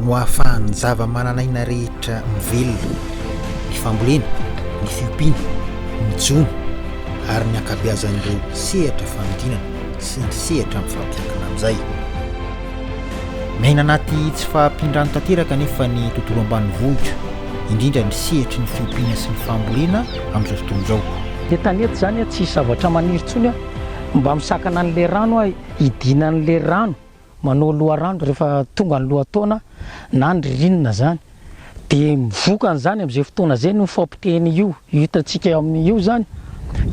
no ahafahan'ny zava-manan'aina rehetra mivelona, ny fambolena, ny fiompiana, ny jono ary ny ankabeazan'ireo sehatra fanodinana sy ny sehatra mifampiankina amin'izay. Miaina anaty tsy fahampian-drano tanteraka anefa ny tontolo ambanivohitra, indrindra ny sehatry ny fiompiana sy ny fambolena amin'izao tontolo izao. Dia tany eto izany tsy hisy zavatra maniry intsony aho, mba misakana an'ilay rano aho, hidiana an'ilay rano. manao loharano rehefa tonga ny lohataona na ny ririnina zany de mivoka an'izany am'izay fotoana zay no fampiteny io hitantsika eo amin'ny io zany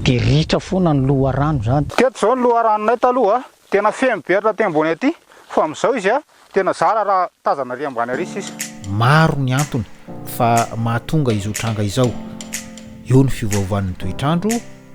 de ritra foana ny loharano zany Teto izao ny loharanonay taloha a, tena feno be hatraty ambony aty, fa amin'izao izy a, tena zara raha tazana ary ambany ary sisa. Maro ny antony fa mahatonga izao tranga izao, eo ny fiovaovan'ny toetr'andro,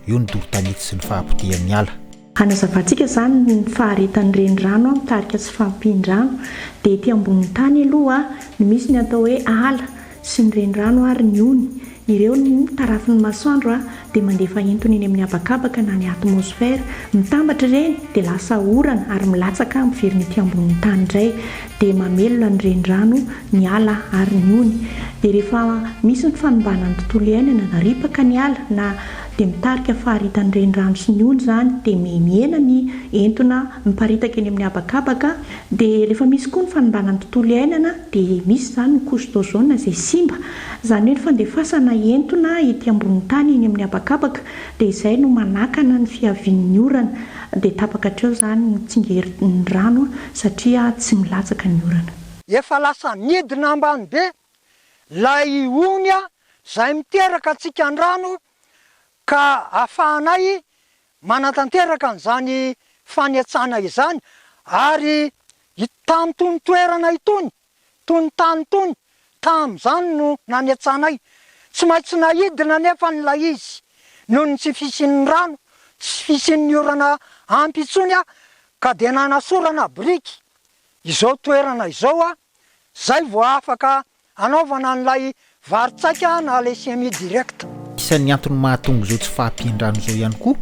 eo ny doro-tanety sy ny fahapotehan'ny ala. Hanazavantsika izany ny faharetan'ny renirano amin'ny tarika sy fampian-drano. Dia ety ambonin'ny tany aloha no misy ny atao hoe ala sy ny renirano ary ny ony. Ireo ny tarafin'ny masoandro dia mandefa entona eny amin'ny habakabaka na ny atmosfera. Mitambatra ireny dia lasa orana ary milatsaka miverina ety ambonin'ny tany indray. Dia mamelona ny renirano, ny ala ary ny ony. Dia rehefa misy ny fanimbana ny tontolo iainana na ripaka ny ala na. dia mitarika faharitan'ny renirano sy ny ony izany dia mihena ny entona miparitaka eny amin'ny habakabaka dia rehefa misy koa ny fanimbana ny tontolo iainana dia misy izany ny couche d'ozone izay simba izany hoe ny fandefasana entona ety ambonin'ny tany eny amin'ny habakabaka dia izay no manakana ny fihavian'ny orana dia tapaka hatreo izany ny tsingerin'ny rano satria tsy milatsaka ny orana. Efa lasa midina ambany be Ilay ionia izay miteraka antsika an-drano ka ahafahanay manatanteraka an'izany fanetsana izany ary itam tony toerana itony, tony tany tony, tamin'izany no nanetsanay. Tsy maintsy naidina anefa ny ilay izy noho ny tsy fisian'ny rano, tsy fisian'ny orana ampy intsony ka dia nanasorana biriky izao toerana izao Zay vao afaka anaovana an'ilay vary tsaika na le semi direct. Isan'ny antony mahatonga izao tsy fahampian-drano izao ihany koa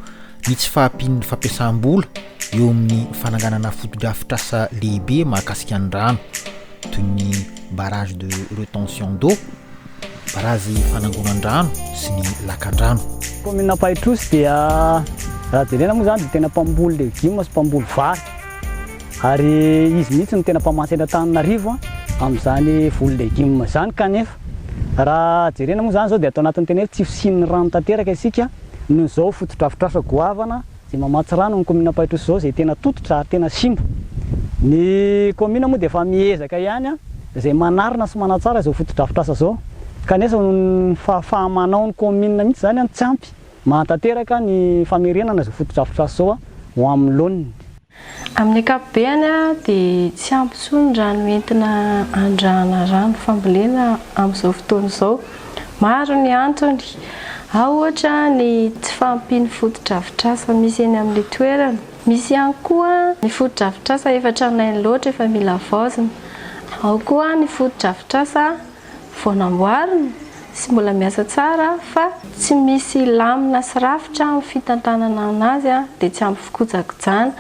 ny tsy fahampian'ny fampiasam-bola eo amin'ny fananganana fotodrafitrasa lehibe mahakasika ny rano, toy ny barrage de retention d'eau, barazy fanangonan-drano sy ny lakandrano. Kaominina Ampahitrosy dia raha jerena moa izany dia tena mpamboly legioma sy mpamboly vary. Ary izy mihitsy no tena mpamatsy eto Antananarivo amin'izany voly legume izany kanefa raha jerena moa izany izao dia ato anatin'ny tena hoe tsy fisian'ny rano tanteraka isika noho izao fotodrafitrasa goavana izay mamatsy rano amin'ny kaominina Ampahitrosy izao izay tena tototra ary tena simba ny kaominina moa dia efa miezaka ihany izay manarina sy manatsara izao fotodrafitrasa izao kanefa noho ny fahafaha-manao ny kaominina mihitsy izany tsy ampy Mahatanteraka ny famerenana izao fotodrafitrasa izao ho amin'ny laoniny. Amin'ny ankapobeny dia tsy ampy intsony ny rano entina andrahana rano fambolena amin'izao fotoana izao. Maro ny antony, ao ohatra ny tsy fahampian'ny fotodrafitrasa misy eny amin'ilay toerana. Misy ihany koa ny fotodrafitrasa efa tranainy loatra efa mila havaozina. Ao koa ny fotodrafitrasa vao namboarina sy mbola miasa tsara fa tsy misy lamina sy rafitra amin'ny fitantanana anazy dia tsy ampy fikojakojana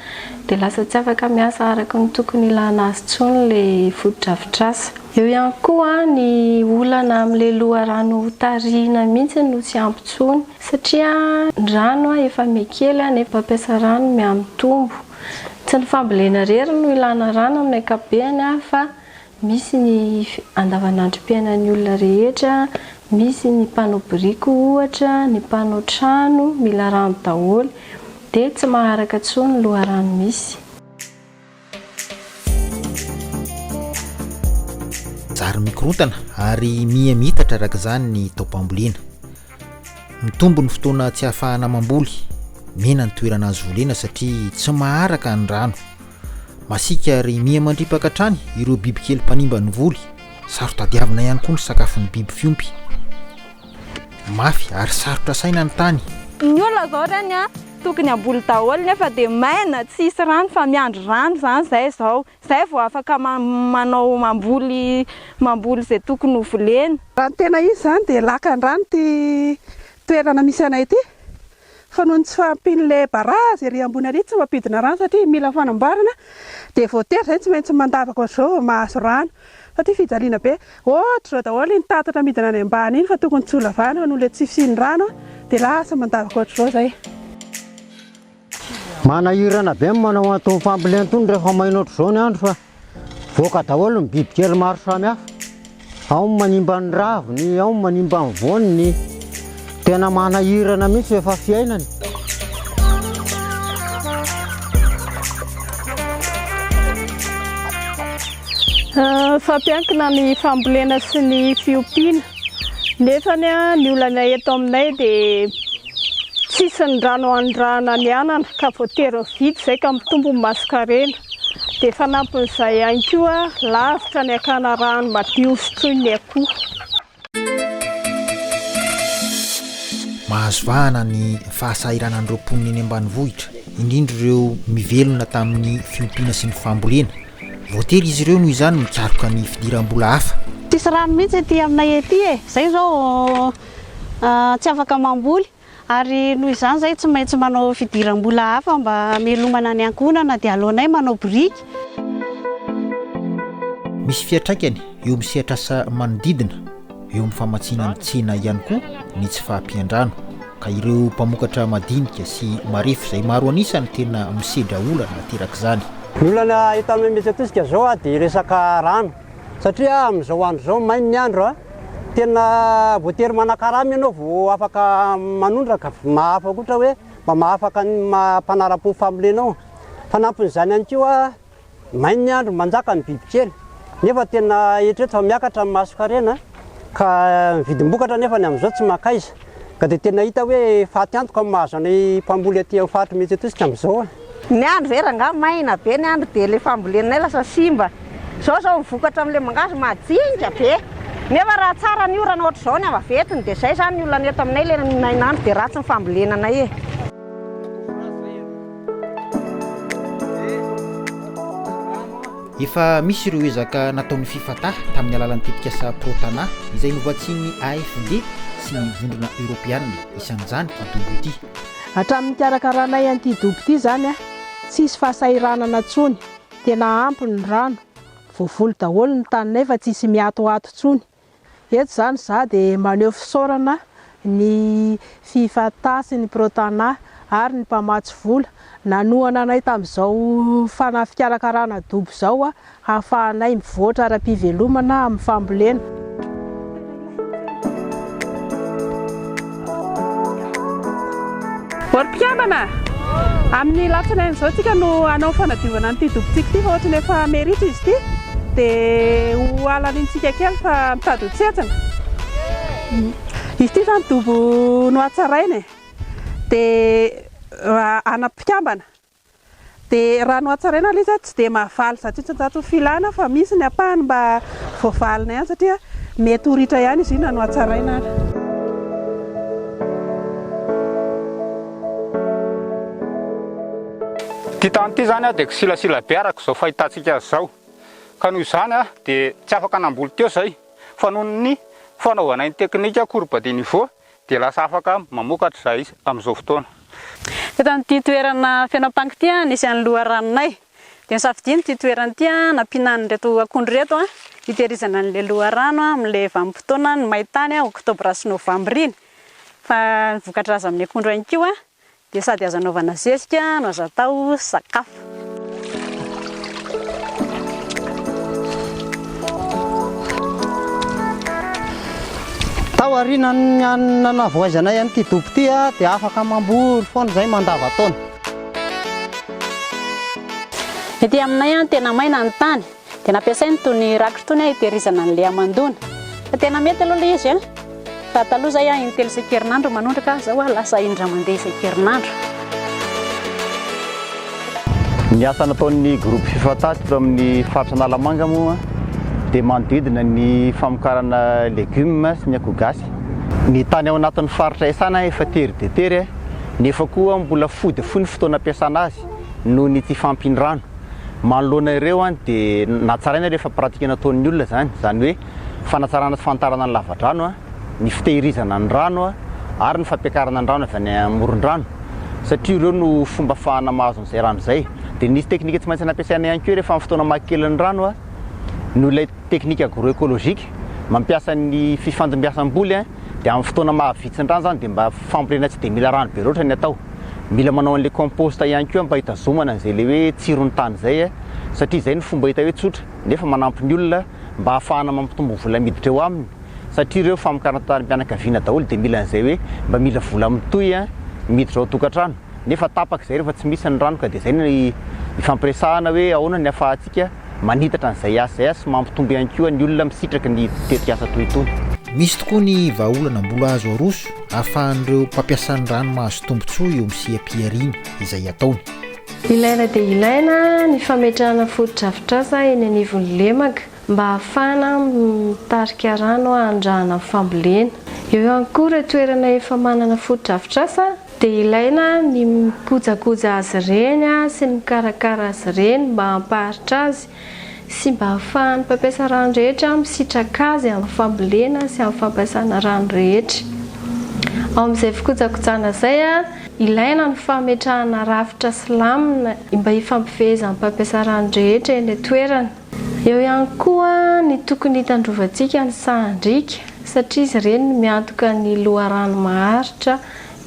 dia lasa tsy afaka miasa araka ny tokony ilana azy tsony ilay fotodrafitrasa. Eo ihany koa ny olana amin'ilay loharano hotarihina mihitsy no tsy ampy tsony satria ny rano efa mihakely nefa mpampiasa rano mihamitombo. Tsy ny fambolena rery no ilana rano amin'ny ankapobeany fa Misy ny andavanandrom-piainan'ny olona rehetra, misy ny mpanao biriky ohatra, ny mpanao trano, mila rano daholo, dia tsy maharaka intsony ny loharano misy. Zary mikorontana ary miha miitatra araka izany ny taom-pambolena. Mitombo ny fotoana tsy ahafahana mamboly, mena ny toerana azo volena satria tsy maharaka ny rano. Masiaka ary miha mandripaka hatrany ireo bibikely mpanimba ny voly. Saro-tadiavina ihany koa ny sakafon'ny biby fiompy. Mafy ary sarotra saina ny tany. Ny olona zao reny a, tokony hamboly daholo nefa dia maina tsy hisy rano fa miandry rano izany izay izao, izay vao afaka manao mamboly mamboly izay tokony ho volena. Raha ny tena izy izany dia lakan-drano ity toerana misy anay ity. fa noho ny tsy fahampian'ilay barazy ery ambony ary tsy mampidina rano satria mila fanamboarana dia voatery izay tsy maintsy mandavaka ohatr'izao vao mahazo rano satria fijaliana be ohatr'izao daholo iny tatatra midina any ambany iny fa tokony tsy ho lavana noho ilay tsy fisian'ny rano dia lasa mandavaka ohatr'izao izay Manahirana be ny manao an'itony fambolena itony rehefa maina ohatr'izao ny andro fa. Voaka daholo ny bibikely maro samihafa, ao ny manimba ny raviny, ao ny manimba ny voaniny, tena manahirana mihitsy efa fiainany. Ah, fampiankina ny fambolena sy ny fiompiana nefa ny olana eto aminay dia tsisy ny rano anondrahana ny anana ka voatery mividy izay ka mitombo ny masonkarena. Dia fanampin'izay ihany koa, lavitra ny hakana rano madio sotroiny ny akoho. Mahazo vahana ny fahasahiranan'ireo mponina eny ambanivohitra, indrindra ireo mivelona tamin'ny fiompiana sy ny fambolena. Voatery izy ireo noho izany mikaroka ny fidiram-bola hafa. Tsisy rano mihitsy ety aminay ety e, izay izao tsy afaka mamboly. Ary noho izany izahay tsy maintsy manao fidiram-bola hafa mba hamelomana ny ankohonana dia aleonay manao biriky. Misy fiantraikany eo amin'ny sehatr'asa manodidina eo amin'ny famatsiana ny tsena ihany koa ny tsy fahampian-drano ka ireo mpamokatra madinika sy marefo izay maro an'isa no tena misedra olana aterak'izany. Ny olana hita mihamihetsiketsika izao dia resaka rano satria amin'izao andro izao mainy ny andro Tena voatery manakarama ianao vao afaka manondraka. Mahafapo ohatra hoe mba mahafaka ny maha mpanara-po ny fambolenao. Fanampin'izany ihany koa, may ny andro, manjaka ny bibikely nefa tena eritrereto fa miakatra ny masonkarena ka ny vidim-bokatra anefa amin'izao tsy mankaiza. Ka dia tena hita hoe faty antoka ny mahazo anay mpamboly aty amin'ny faritry Mety Etosika amin'izao a! Ny andro ve rangaha maina be ny andro dia ilay fambolenay lasa simba. Izao izao ny vokatra amin'ilay mangahazo madinika be. Nefa raha tsara ny orana ohatr'izao ny avaventiny dia izay izany ny olana eto aminay ilay nainandro dia ratsy ny fambolena anay e! Efa misy ireo ezaka nataon'ny Fifata tamin'ny alalan'ny tetikasa Pro-Tanà izay novatsian'ny AFD sy ny Vondrona Eoropeana, isan'izany ity dobo ity. Hatramin'ny nikarakaranay an'ity dobo ity izany, tsy hisy fahasahiranana intsony, tena ampy ny rano, voavoly daholo ny taninay fa tsy hisy miatoato intsony. Eto izany izaho dia maneho fisaorana ny Fifata sy ny Protana ary ny mpamatsy vola nanohana anay tamin'izao fanafikarakarana dobo izao hahafahanay mivoatra ara-pivelomana amin'ny fambolena. Vory mpikambana! Amin'ny latsinainy izao tsika no hanao fanadiovana an'ity dobotsika ity fa ohatran'ny efa meritra izy ity dia ho halalintsika kely fa mitady ho tsentsina. Izy ity izany dobo no hatsaraina e! Dia raha ana mpikambana. Dia raha nohatsaraina ilay izy aho tsy dia mahavaly zato isan-jato ny filana fa misy ny ampahany mba voavalinay ihany satria mety ho ritra ihany izy io na nohatsaraina ary. Ity tany ity izany dia kisilasila be araka izao fahitantsika azy izao ka noho izany dia tsy afaka namboly teo izahay fa noho ny fanaovanay ny teknika courbe de niveau dia lasa afaka mamokatra izahay amin'izao fotoana. Teto amin'ity toerana feno ampango ity nisy an'ny loharanonay. Dia nosafidiany ity toerana ity nampiana an'ireto akondro ireto hitehirizana an'ilay loharano amin'ilay vanim-potoanan'ny main-tany, oktobra sy novambra iny. Fa ny voka-draza amin'ny akondro ihany koa dia sady azo anaovana zezika no azo atao sakafo. Tao aorianan'ny nanavoaizanay an'ity dobo ity dia afaka mamboly foana izay mandavan-taona. Ety aminay tena maina ny tany. Dia nampiasainy itony rakitra itony hitehirizana an'i Léa mandona. Fa tena mety aloha ilay izy. Fa taloha izay aho in-telo isan-kerinandro manondraka, fa izao aho lasa in-dray mandeha isan-kerinandro. Ny asa nataon'ny groupe Fifata teto amin'ny faritra Analamanga moa dia manodidina ny famokarana legumes sy ny akoho gasy. Ny tany ao anatin'ny faritra Isana efa tery dia tery nefa koa mbola fohy dia fohy ny fotoana ampiasana azy noho ny tsy fahampian'ny rano. manoloana ireo dia natsaraina ilay efa pratika nataon'ny olona izany, izany hoe fanatsarana sy fanitarana ny lavadrano, ny fitehirizana ny rano ary ny fampiakarana ny rano avy any amoron-drano satria ireo no fomba afahana mahazo an'izay rano izay. Dia nisy teknika tsy maintsy nampiasaina ihany koa rehefa amin'ny fotoana maha kely ny rano noho ilay teknika agro-ekolojika mampiasa ny fifandimbiasam-boly. dia amin'ny fotoana maha vitsin-drano izany dia mba fambolena tsy dia mila rano be loatra ny atao, mila manao an'ilay compost ihany koa mba hitazomana an'izay ilay hoe tsiron'ny tany izay a, satria izay no fomba hita hoe tsotra nefa manampy ny olona mba hahafahana mampitombo vola miditra eo aminy satria ireo famokarana tanim-pianakaviana daholo dia mila an'izay hoe mba mila vola mitohy a miditra ao an-tokantrano nefa tapaka izay rehefa tsy misy ny rano ka dia izay no ifampiresahana hoe ahoana ny ahafahantsika Manitatra ny ZHZH sy mampitombo ihany koa ny olona misitraka ny tetikasa toy itony. Misy tokoa ny vahaolana mbola azo aroso ahafahan'ireo mpampiasa ny rano mahazo tombontsoa eo amin'ny seha-pihariana izay ataony. Ilaina dia ilaina ny fametrahana fotodrafitrasa eny anivon'ny lemaka mba ahafahana mitarika rano handrahana ny fambolena. Eo ihany koa ireo toerana efa manana fotodrafitrasa Dia ilaina ny mikojakoja azy ireny sy ny mikarakara azy ireny mba hampaharitra azy sy mba hahafahan'ny mpampiasa rano rehetra misitraka azy amin'ny fambolena sy amin'ny fampiasana rano rehetra. Ao amin'izay fikojakojana izay, ilaina ny fametrahana rafitra sy lamina mba hifampifehezan'ny mpampiasa rano rehetra eny an-toerana. Eo ihany koa ny tokony hitandrovantsika ny sahan-driaka satria izy ireny no miantoka ny loharano maharitra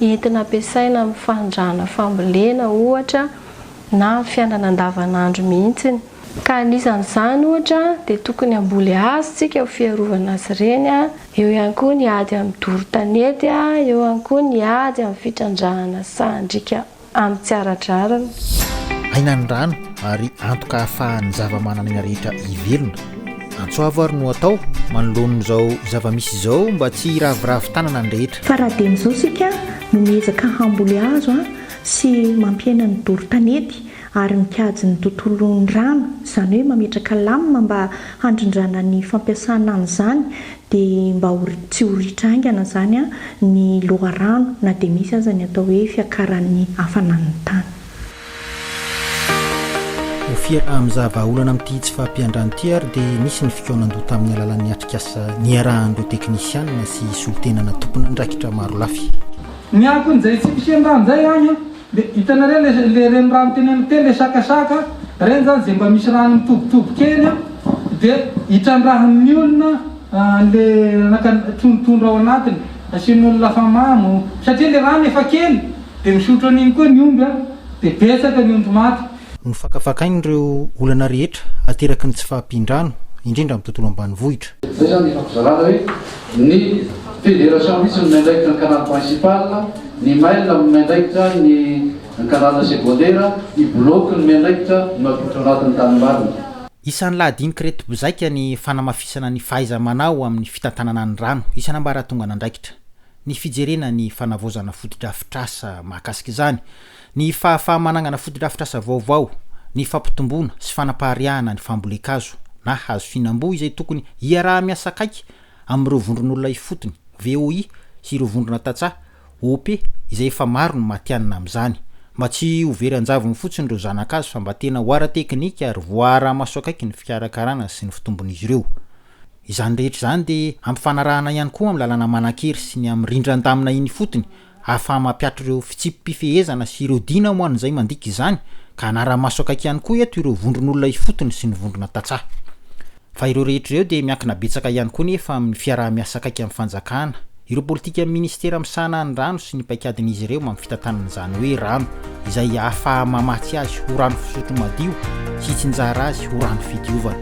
entina ampiasaina amin'ny fanondrahana fambolena ohatra na amin'ny fiainana andavanandro mihitsiny, ka anisan'izany ohatra dia tokony hamboly hazo isika ho fiarovana azy ireny, eo ihany koa ny ady amin'ny doro tanety, eo ihany koa ny ady amin'ny fitrandrahana sahan-driaka Amin'ny tsy ara-drariny. Aina ny rano ary antoka ahafahan'ny zavamananaina rehetra hivelona. Antso avo ary no atao manoloana izao zava-misy izao mba tsy hiraviravy tanana ny rehetra. Fa raha dieny izao isika no miezaka hamboly hazo sy mampihena ny doro tanety ary mikajy ny tontolon'ny rano, izany hoe mametraka lamina mba handrindrana ny fampiasana an'izany dia mba ho tsy ho ritra haingana izany ny loharano na dia misy aza ny atao hoe fiakaran'ny hafanan'ny tany. Ho fiaraha-mizaha vahaolana amin'ity tsy fahampian-drano ity ary dia nisy ny fikaonan-doha tamin'ny alalan'ny atrikasa niarahan'ireo teknisiana sy solontenana tompon'andraikitra marolafy. Ny akon'izay tsy mpihen-drano izay any an! Le hitanareo le le renirano teny amin'ny teny le sakasaka reny zany ze mba misy rano mitobitobo kely a de hitrandrahan'ny olona an'le anaka trondrotrondro ao anatiny asian'ny olona afamamo satria le rano efa kely de misotro an'iny koa ny omby a de betsaka ny ondry maty Nofakafakainy ireo olana rehetra ateraky ny tsy fahampian-drano, indrindra amin'ny tontolo ambanivohitra. Izay izany efa fizarana hoe ny Fédération mihitsy no miandraikitra ny canal principal, ny mail no miandraikitra ny canal secondaire, ny bloc no miandraikitra ny mampiditra ao anatin'ny tanimbariny. Isan'ny lahadink'ireto mpizaika ny fanamafisana ny fahaiza-manao amin'ny fitantanana ny rano isan'ambaratongan'andraikitra, ny fijerena ny fanavaozana fotodrafitrasa mahakasika izany, Ny fahafaha-managnana fotodrafitrasa vaovao, ny fampitomboana sy fanapariahana ny fambolen-kazo na hazo fihinam-boa izay tokony hiaraha-miasa akaiky amin'ireo vondron'olona ifotony, VOI, sy ireo vondrona tantsaha, OP, izay efa maro no matihanina amin'izany. Mba tsy ho very an-javony fotsiny ireo zana-kazo fa mba tena ho ara-teknika ary voaaraha-maso akaiky ny fikarakarana sy ny fitombon'izy ireo. Izany rehetra izany dia ampifanarahana ihany koa amin'ny lalàna manan-kery sy ny amin'ny rindran-damina eny ifotony ahafaha-mampiato ireo fitsipi-pifehezana sy ireo dina ho an'izay mandika izany, ka hanara-maso akaiky ihany koa eto ireo vondron'olona ifotony sy ny vondrona tantsaha. Fa ireo rehetra ireo dia miankina betsaka ihany koa nefa amin'ny fiaraha-miasa akaiky amin'ny fanjakana, ireo politikan'ny minisitera misahana ny rano sy ny paikadin'izy ireo amin'ny fitantanana izany hoe rano izay ahafaha-mamatsy azy ho rano fisotro madio sy hitsinjara azy ho rano fidiovana.